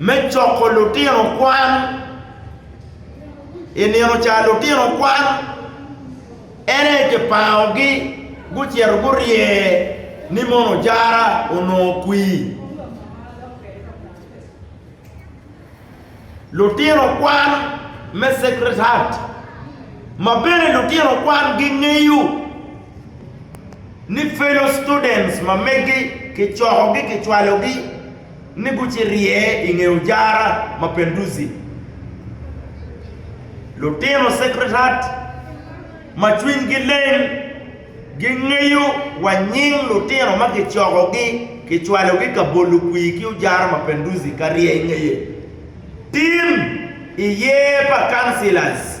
me coko lutino kwan. I nino ca lutino kwan ene kipangogi gucito gurye ni mono jara onongo kwii. Lutino kwan me Sacred Heart ma bene lutino kwan gingeyo ni fellow students ma megi kicokogi kicwalogi. ni gucirye i nge ojara ma Penduzi. Lutino Sekretariat ma cwinygi leng gingeyo wa nying lutino ma kicokogi kicwalogi ka bolo kwir ki ojara ma Penduzi ka rye i ngeye. Tim i yer pa Councillors.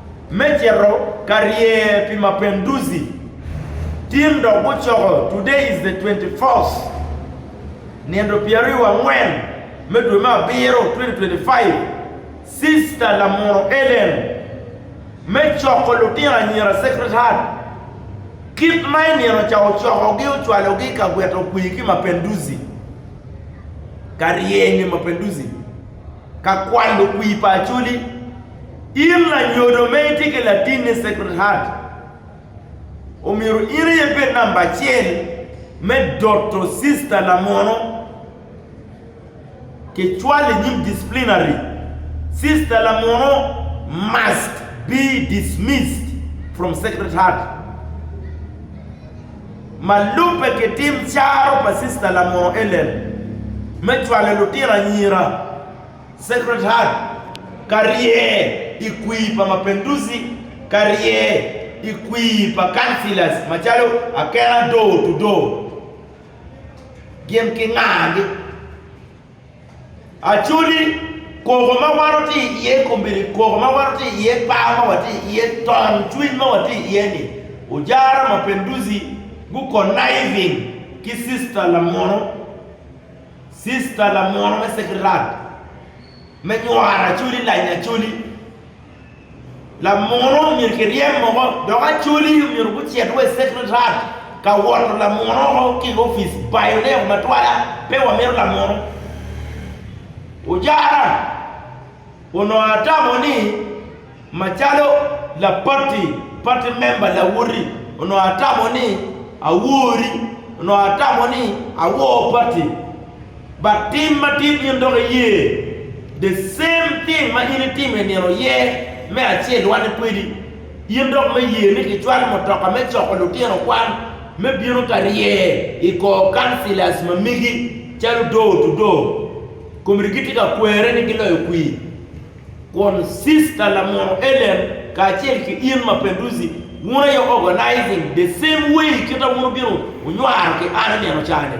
me cito ka rye pi Mapinduzi, tim dok gucoko Today is the 24th, Nino pyeraryo angwen me dwe me abiro 2025, Sista Lamuro Ellen, me coko lutino anyira Sacred Heart, kit ma i nino ca ocokogi ocwalogi ka gweto kwi ki Mapinduzi, ka rye nge Mapinduzi. Ka kwano kwir pa Acholi, in lanyodo ma itye ki latin ni Sacred Heart, omyero in aye ibed namba acel me doto sista lamono kicwalo i nyim disciplinary. Sista lamono must be dismissed from Sacred Heart. ma lubbe ki tim caro pa Cista Lamoo Ellen me cwalo lutino anyira, Sacred Heart, ka rye i kwir pa Mapenduzi, ka rye i kwir pa Councillors macalo Akena Door to Door, gin ki ngagi. Actually, koko ma wan watye iye kombeddi koko ma wan watye iye, par ma watye iye, ton cwiny ma watye iye ni, Ojara Mapinduzi gu conniving ki sister lamono, sister lamono me secretary me nywara Acholi, Lanya Acholi. Lamuno omyero kiryem moko dok acholi omyero gucit wa i secretariat ka woto lamuno oko ki i opic bayo ne ma twala pe wa mito lamuno ojara onongo atamo ni ma calo la party party member lawoti onongo atamo ni awori onongo atamo ni awor party. But tim madit in dok iye the same thing ma in itimo i nino ye me acel wanne kwedi in dok me ye ni kicwal mutoka me coko lutino kwan me bino ka rye i kor councillors ma megi calo door to door committee gitye ka kwere ni giloyo kwir kun sister lamono Ellen kacel ki in ma Penduzi wun aye organizing the same way kit a wun obino onywaro ki an i nino cani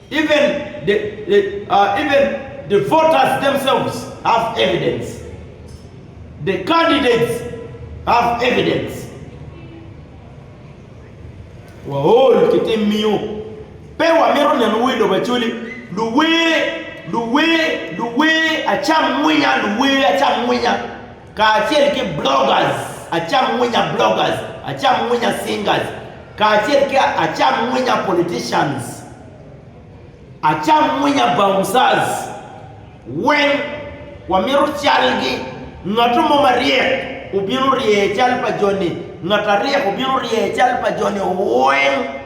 Even the voters themselves have evidence, the candidates have evidence. Waol ki tim miyo pe wamito neno wer lobo acoli, luwer, luwer, luwer acam mwinya, luwer acam mwinya. kacel ki Bloggers Acam Winya Bloggers Acam Winya Singers kacel ki Acam Winya Politicians Acam Winya Bouncers weng wamito calgi ngatto mo maryek obino rye cal pa joni ngat aryek obino rye cal pa joni weng.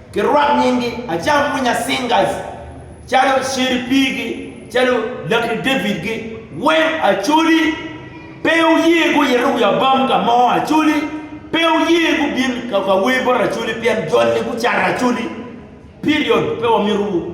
Kirwak nyingi acam mwinya singers calo Sheri Pigi calo Lucky David gi weng Acholi pe oye guyito wi abam ka mo Acholi pe oye gubin ka ka wer bot Acholi pien jol ni gucato Acholi period pe wamito wu.